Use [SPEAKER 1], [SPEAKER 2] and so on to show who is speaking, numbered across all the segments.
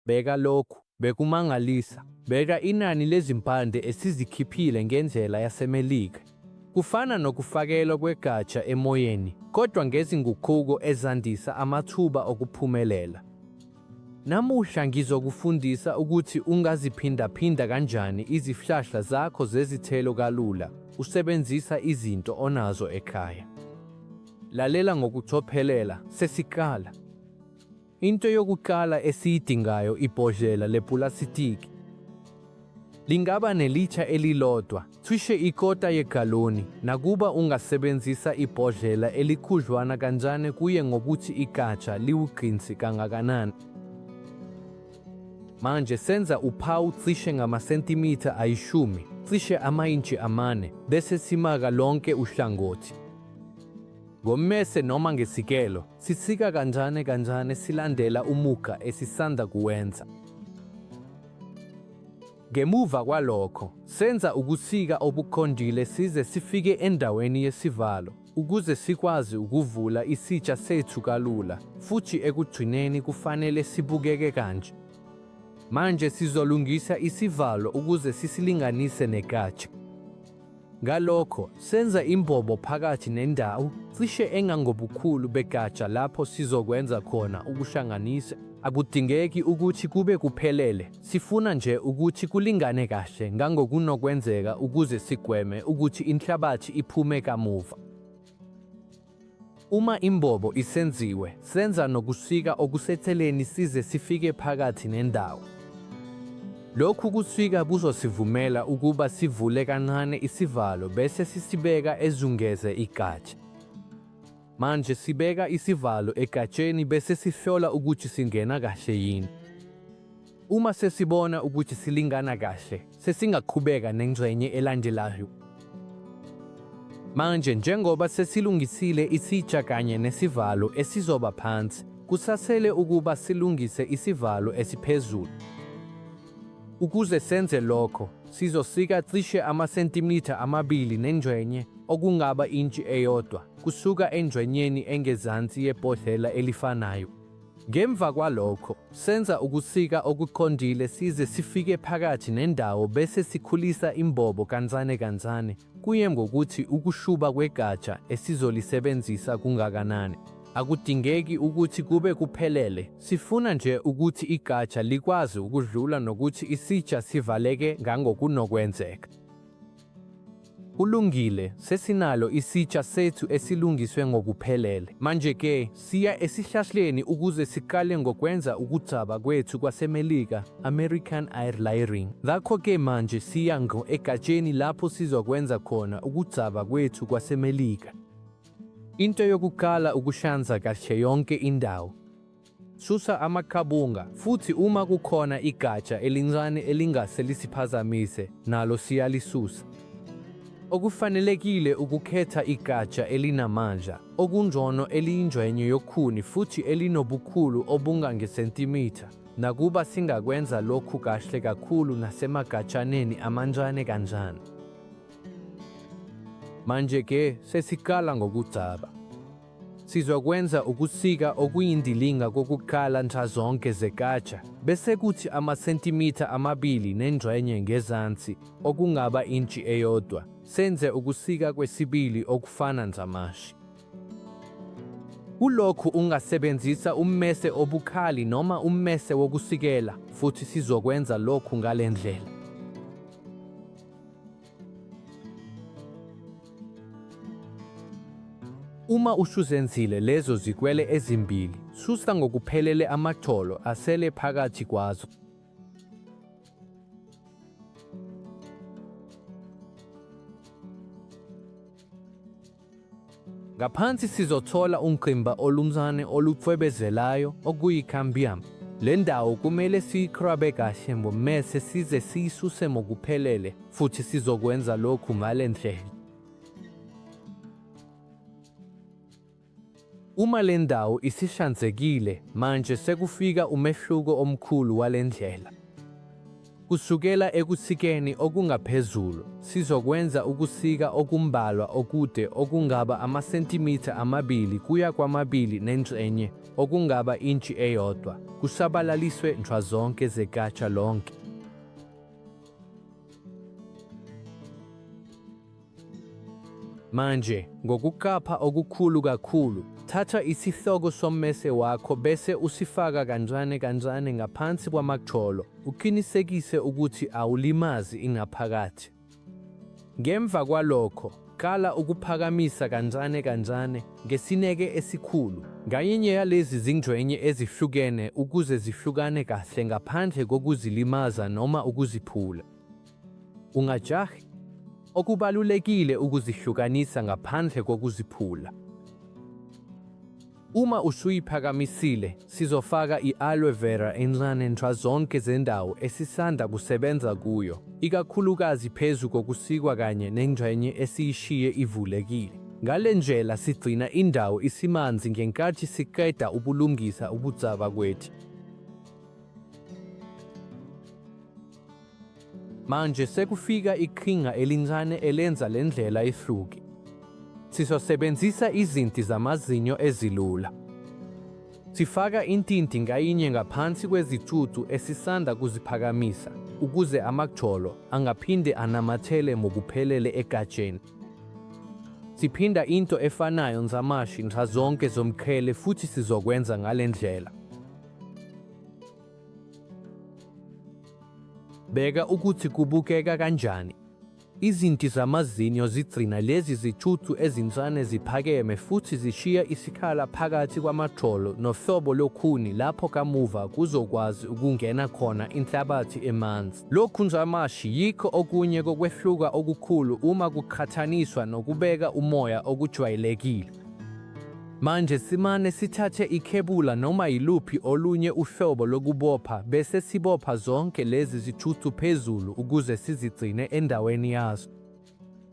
[SPEAKER 1] Bheka lokhu. Bekumangalisa. Bheka inani lezimpande esizikhiphile ngendlela yaseMelika. Kufana nokufakelwa kwegatsha emoyeni, kodwa ngezinguquko ezandisa amathuba okuphumelela. Namuhla ngizokufundisa ukuthi ungaziphindaphinda kanjani izihlahla zakho zezithelo kalula usebenzisa izinto onazo ekhaya. Lalela ngokucophelela, sesiqala. Into yokuqala esiyidingayo ibhodlela lepulasitiki. Lingaba nelitsha elilodwa, cishe ikota yegaloni, nakuba ungasebenzisa ibhodlela elikhudlwana kanjani kuye ngokuthi igatsha liwugqinsi kangakanani. Manje senza uphawu cishe ngamasentimitha ayishumi, cishe amayintshi amane, bese simaka lonke uhlangothi ngommese noma ngesikelo. Sisika kancane kancane silandela umugqa esisanda kuwenza. Ngemuva kwalokho, senza ukusika obuqondile size sifike endaweni yesivalo ukuze sikwazi ukuvula isitsha sethu kalula, futhi ekugcineni kufanele sibukeke kanje. Manje sizolungisa isivalo ukuze sisilinganise nekatsha. Ngalokho, senza imbobo phakathi nendawo, cishe engangobukhulu begatsha lapho sizokwenza khona ukuhlanganisa. Akudingeki ukuthi kube kuphelele, sifuna nje ukuthi kulingane kahle ngangokunokwenzeka ukuze sigweme ukuthi inhlabathi iphume kamuva. Uma imbobo isenziwe, senza nokusika okusetheleni size sifike phakathi nendawo. Lokhu kusika kuzosivumela ukuba sivule kancane isivalo bese sisibeka ezungeze igatsha. Manje sibeka isivalo egatsheni bese sihlola ukuthi singena kahle yini. Uma sesibona ukuthi silingana kahle, sesingaqhubeka nengxenye elandelayo. Manje njengoba sesilungisile isitsha kanye nesivalo esizoba phansi, kusasele ukuba silungise isivalo esiphezulu. Ukuze senze lokho, sizosika cishe amasentimitha amabili nengxenye, okungaba intshi eyodwa, kusuka engxenyeni engezansi yebhodlela elifanayo. Ngemva kwalokho, senza ukusika okuqondile size sifike phakathi nendawo bese sikhulisa imbobo kancane kancane, kuye ngokuthi ukushuba kwegatsha esizolisebenzisa kungakanani. Akudingeki ukuthi kube kuphelele, sifuna nje ukuthi igatsha likwazi ukudlula nokuthi isitsha sivaleke ngangokunokwenzeka. Kulungile, sesinalo isitsha sethu esilungiswe ngokuphelele. Manje-ke, siya esihlahleni ukuze siqale ngokwenza ukugcaba kwethu kwaseMelika, American Air Layering. Ngakho-ke manje siya ngqo egatsheni lapho sizokwenza khona ukugcaba kwethu kwaseMelika. Into yokuqala ukuhlanza kahle yonke indawo. Susa amaqabunga, futhi uma kukhona igatsha elincane elingase lisiphazamise, nalo siyalisusa. Okufanelekile ukukhetha igatsha elinamandla, okungcono eliyingxenye yokhuni futhi elinobukhulu obungangesentimitha, nakuba singakwenza lokhu kahle kakhulu nasemagatshaneni amancane kanjani. Manje-ke sesiqala ngokugcaba. Sizokwenza ukusika okuyindilinga kokuqala nxazonke zekatsha, bese kuthi amasentimitha amabili nengxenye ngezansi, okungaba intshi eyodwa, senze ukusika kwesibili okufana nzamashi. Kulokhu ungasebenzisa ummese obukhali noma ummese wokusikela, futhi sizokwenza lokhu ngale ndlela. Uma usuzenzile lezo zikwele ezimbili, susa ngokuphelele amaxolo asele phakathi kwazo. Ngaphansi sizothola ungqimba olumzane olucwebezelayo okuyi-cambium. Le ndawo kumele siyikrabe kahle ngommese size siyisuse ngokuphelele futhi sizokwenza lokhu ngale ndlela. Uma le ndawo isihlanzekile manje sekufika umehluko omkhulu wale ndlela. Kusukela ekusikeni okungaphezulu, sizokwenza ukusika okumbalwa okude okungaba amasentimitha amabili kuya kwamabili nengxenye, okungaba intshi eyodwa, kusabalaliswe nxazonke zegatsha lonke. Manje, ngokuqapha okukhulu kakhulu, thatha isihloko sommese wakho bese usifaka kancane kancane ngaphansi kwamagxolo, uqinisekise ukuthi awulimazi ingaphakathi. Ngemva kwalokho, qala ukuphakamisa kancane kancane ngesineke esikhulu ngayinye yalezi zingxenye ezihlukene ukuze zihlukane kahle ngaphandle kokuzilimaza noma ukuziphula. Ungajahi. Okubalulekile ukuzihlukanisa ngaphandle kokuziphula. Uma usuyiphakamisile, sizofaka i-aloe vera encane nxa zonke zendawo esisanda kusebenza kuyo, ikakhulukazi phezu kokusikwa kanye nengxenye esiyishiye ivulekile. Ngale ndlela sigcina indawo isimanzi ngenkathi siqeda ubulungisa ubudzaba kwethu. Manje sekufika iqhinga elincane elenza le ndlela ihluke. Sizosebenzisa izinti zamazinyo ezilula. Sifaka intinti ngayinye ngaphansi kwezicucu esisanda kuziphakamisa ukuze amagxolo angaphinde anamathele ngokuphelele egatsheni. Siphinda into efanayo nzamashi nxazonke zomqhele futhi sizokwenza ngale ndlela. Bheka ukuthi kubukeka kanjani. Izinti zamazinyo zigcina lezi zithuthu ezincane ziphakeme futhi zishiya isikhala phakathi kwamajolo nohlobo lokhuni lapho kamuva kuzokwazi ukungena khona inhlabathi emanzi. Lokhu nzamashi yikho okunye kokwehluka okukhulu uma kuqhathaniswa nokubeka umoya okujwayelekile. Manje simane sithathe ikhebula noma yiluphi olunye uhlobo lokubopha bese sibopha zonke lezi zithuthu phezulu ukuze sizigcine endaweni yazo.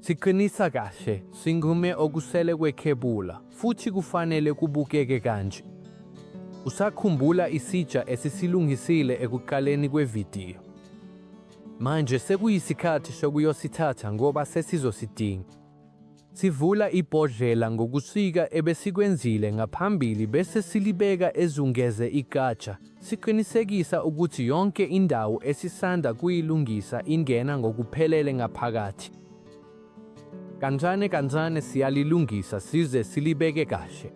[SPEAKER 1] Siqinisa kahle, singume okusele kwekhebula futhi kufanele kubukeke kanje. Usakhumbula isitsha esisilungisile ekuqaleni kwevidiyo? Manje sekuyisikhathi sokuyosithatha ngoba sesizosidinga. Sivula ibhodlela ngokusika ebesikwenzile ngaphambili bese silibeka ezungeze igatsha, siqinisekisa ukuthi yonke indawo esisanda kuyilungisa ingena ngokuphelele ngaphakathi. Kancane kancane siyalilungisa size silibeke kahle.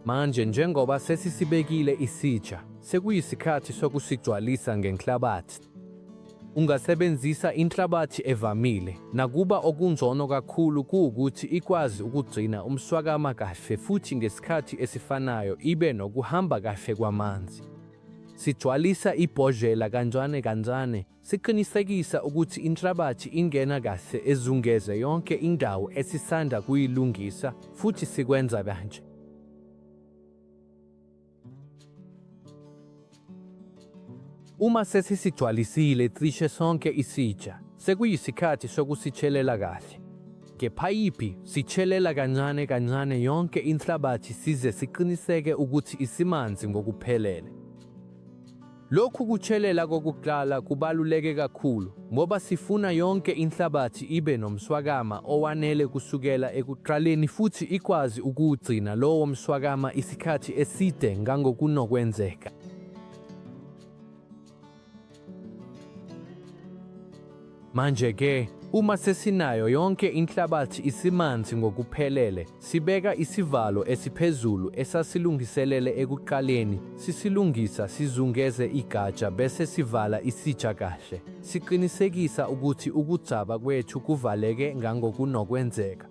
[SPEAKER 1] Manje njengoba sesisibekile isitsha, sekuyisikhathi sokusigcwalisa ngenhlabathi. Ungasebenzisa inhlabathi evamile nakuba okungcono kakhulu kuwukuthi ikwazi ukugcina umswakama kahle futhi ngesikhathi esifanayo ibe nokuhamba kahle kwamanzi. Sigcwalisa ibhodlela kancane kancane, siqinisekisa ukuthi inhlabathi ingena kahle ezungeze yonke indawo esisanda kuyilungisa futhi sikwenza kanje. Uma sesisigcwalisile cishe sonke isitsha, sekuyisikhathi sokusitshelela kahle. Ngephayiphi sitshelela kancane kancane yonke inhlabathi size siqiniseke ukuthi isimanzi ngokuphelele. Lokhu kuchelela kokuqala kubaluleke kakhulu ngoba sifuna yonke inhlabathi ibe nomswakama owanele kusukela ekuqaleni futhi ikwazi ukuwugcina lowo mswakama isikhathi eside ngangokunokwenzeka. Manje-ke, uma sesinayo yonke inhlabathi isimanzi ngokuphelele, sibeka isivalo esiphezulu esasilungiselele ekuqaleni, sisilungisa sizungeze igatsha bese sivala isitsha kahle, siqinisekisa ukuthi ukudzaba kwethu kuvaleke ngangokunokwenzeka.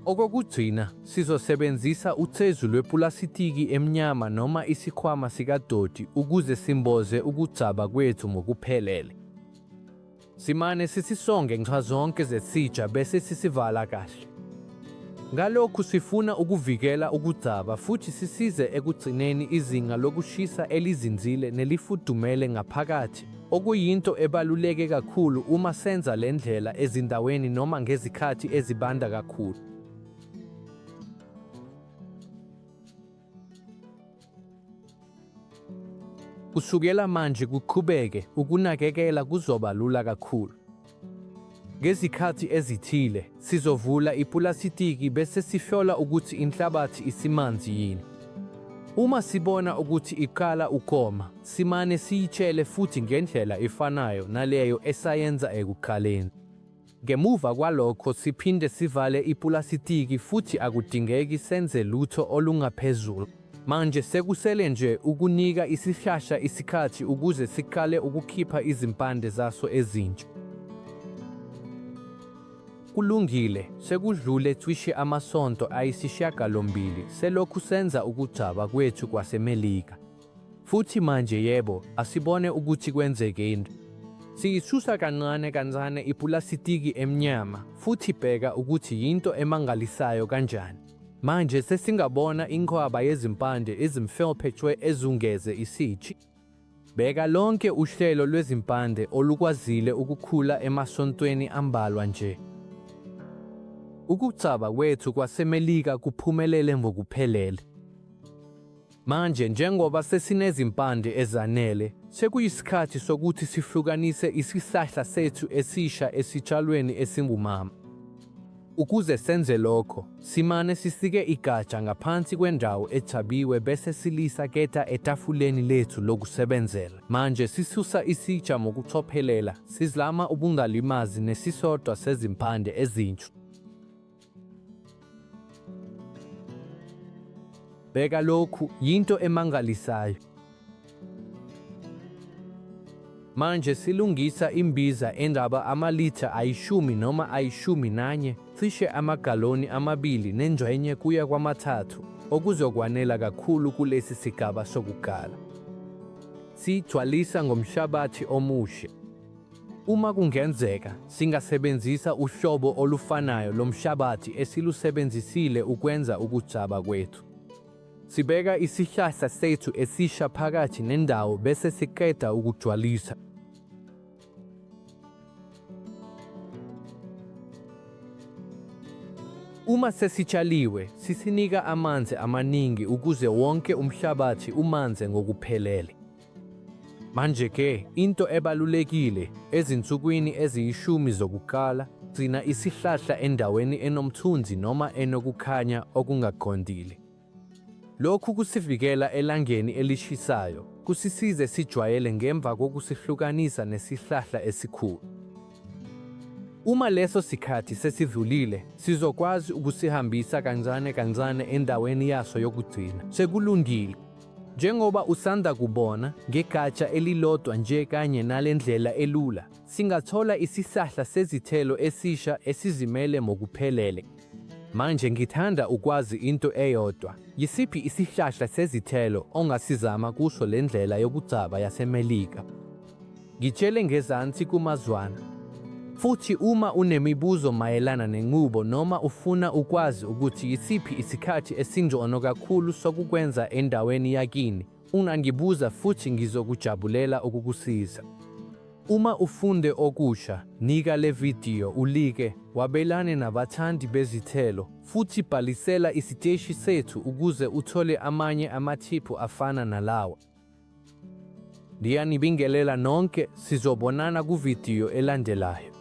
[SPEAKER 1] Okokugcina, sizosebenzisa ucezu lwepulasitiki emnyama noma isikhwama sikadoti ukuze simboze ukugcaba kwethu ngokuphelele. Simane sisisonge nxazonke zesitsha bese sisivala kahle. Ngalokhu sifuna ukuvikela ukugcaba futhi sisize ekugcineni izinga lokushisa elizinzile nelifudumele ngaphakathi. okuyinto ebaluleke kakhulu uma senza le ndlela ezindaweni noma ngezikhathi ezibanda kakhulu. Kusukela manje kuqhubeke, ukunakekela kuzoba lula kakhulu. Ngezikhathi ezithile, sizovula ipulasitiki bese sihlola ukuthi inhlabathi isimanzi yini. Uma sibona ukuthi iqala ukoma, simane siyitshele futhi ngendlela efanayo naleyo esayenza ekuqaleni. Ngemuva kwalokho siphinde sivale ipulasitiki futhi akudingeki senze lutho olungaphezulu. Manje sekusele nje ukunika isihlahla isikhathi ukuze siqale ukukhipha izimpande zaso ezintsha. Kulungile, sekudlule cishe amasonto ayisishiyagalombili selokhu senza ukugcaba kwethu kwaseMelika. Futhi manje, yebo, asibone ukuthi kwenzeke into. Siyisusa kancane kancane ipulasitiki emnyama, futhi bheka ukuthi yinto emangalisayo kanjani. Manje sesingabona inqwaba yezimpande ezimfelphe tshwe ezungeze isitshi. Bheka lonke uhlelo lwezimpande olukwazile ukukhula emasontweni ambalwa nje. Ukucaba kwethu kwaseMelika kuphumelele ngokuphelele. Manje njengoba sesinezimpande ezanele, sekuyisikhathi sokuthi sihlukanise isihlahla sethu esisha esitshalweni esingumama. Ukuze senze lokho, simane sisike igatsha ngaphansi kwendawo ethabiwe bese silisa keta etafuleni lethu lokusebenzela. Manje sisusa isitsha ngokucophelela, sizlama ubungalimazi nesisodwa sezimpande ezintshu. Bheka lokhu, yinto emangalisayo. Manje silungisa imbiza engaba amalitha ayishumi noma ayishumi nanye, cishe amagaloni amabili nengxenye kuya kwamathathu, okuzokwanela kakhulu kulesi sigaba sokuqala. Siyigcwalisa ngomhlabathi omushe. Uma kungenzeka, singasebenzisa uhlobo olufanayo lomshabathi esilusebenzisile ukwenza ukugcaba kwethu. Sibeka isihlahla sethu esisha phakathi nendawo bese siqeda ukugcwalisa. Uma sesitshaliwe, sisinika amanzi amaningi ukuze wonke umhlabathi umanze ngokuphelele. Manje-ke, into ebalulekile, ezinsukwini eziyishumi zokuqala, gcina isihlahla endaweni enomthunzi noma enokukhanya okungaqondile. Lokhu kusivikela elangeni elishisayo, kusisize sijwayele ngemva kokusihlukanisa nesihlahla esikhulu. Uma leso sikhathi sesidlulile, sizokwazi ukusihambisa kancane kancane endaweni yaso yokugcina. Sekulungile, Njengoba usanda kubona, ngegatsha elilodwa nje kanye nale ndlela elula, singathola isisahla sezithelo esisha esizimele mokuphelele. Manje ngithanda ukwazi into eyodwa, yisiphi isihlahla sezithelo ongasizama kuso le ndlela yokugcaba yaseMelika? Ngitshele ngezansi kumazwana. Futhi uma unemibuzo mayelana nenqubo noma ufuna ukwazi ukuthi yisiphi isikhathi esingcono kakhulu sokukwenza endaweni yakini, ungangibuza futhi ngizokujabulela ukukusiza. Uma ufunde okusha, nika le vidiyo ulike, wabelane nabathandi bezithelo, futhi bhalisela isiteshi sethu ukuze uthole amanye amathiphu afana nalawa. Ndiyanibingelela nonke, sizobonana kuvidiyo elandelayo.